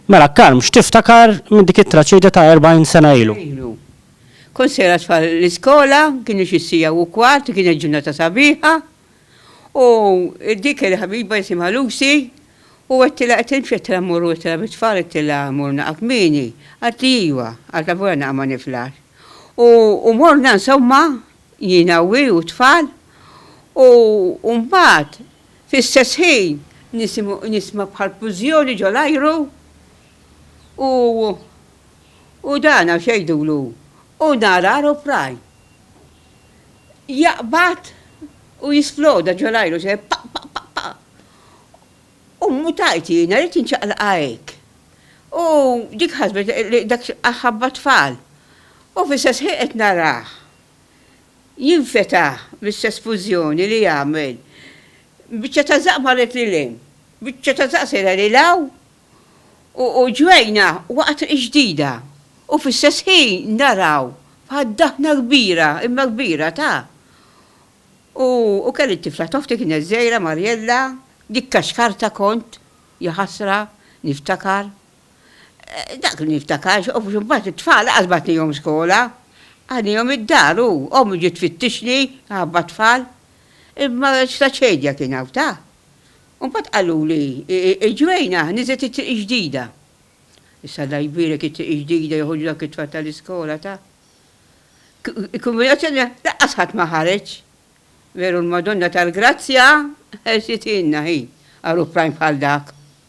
Mela, Carm, x'tiftakar minn dik it-traċedja ta' erbgħin sena ilu? Ilu. Kont sejra t-tfal l-iskola, kienu xi siegħa u kwart, kienet ġurnata sabiħa, u dik il-ħabiba jisimha Lucy, u għedtilha, qed nimxi għedtilha mmorru għedtilha bit-tfal għedtilha mmorru naqgħa kmieni, qaltli iva, għalt avolja naqgħa ma niflaħx. U morna insomma, jiena u hi u t-tfal, u mbagħad, Fl-istess ħin nisimgħu nisma bħal fużjoni ġo l-ajru u u dan għax jgħidulu u nar aeroplane jaqbad u jisploda ġo l-ajru se pa pa pa pa u mutajt jiena ridt inċaqlaqha hekk u dik ħasbet li dak ħabba tfal u fl-istess ħin qed narah. jinfetaħ l-istess fużjoni li jagħmel biċċa ta' żaqq marret lil hemm, biċċa ta' żaqq sejra lil hawn u ġwejna waqgħa triq ġdida u fl-istess ħin naraw bħal daħna kbira, imma kbira ta'. U kelli t-tifla t'oħti kienet żgħira Marjella, dikka xkarta kont, jaħasra, niftakar. Dak li niftakar, x'qofx imbagħad it-tfal qas bagħtnihom skola. Qagħdnihom id-dar u ommi ġiet tfittixni minħabba t-tfal. Imma x'ta' ċedja kien hawn, ta! U mbagħad qaluli, il-Ġwejna niżlet it-Triq il-Ġdida. Issa Alla jbierek it-Triq il-Ġdida joħorġu dawk it-tfal tal-iskola, ta! Il-Kongragazzjoni laqqas ħadd ma ħareġ. Veru l-Madonna tal-Grazzja ħersithielna hi għal uprajn bħal dak.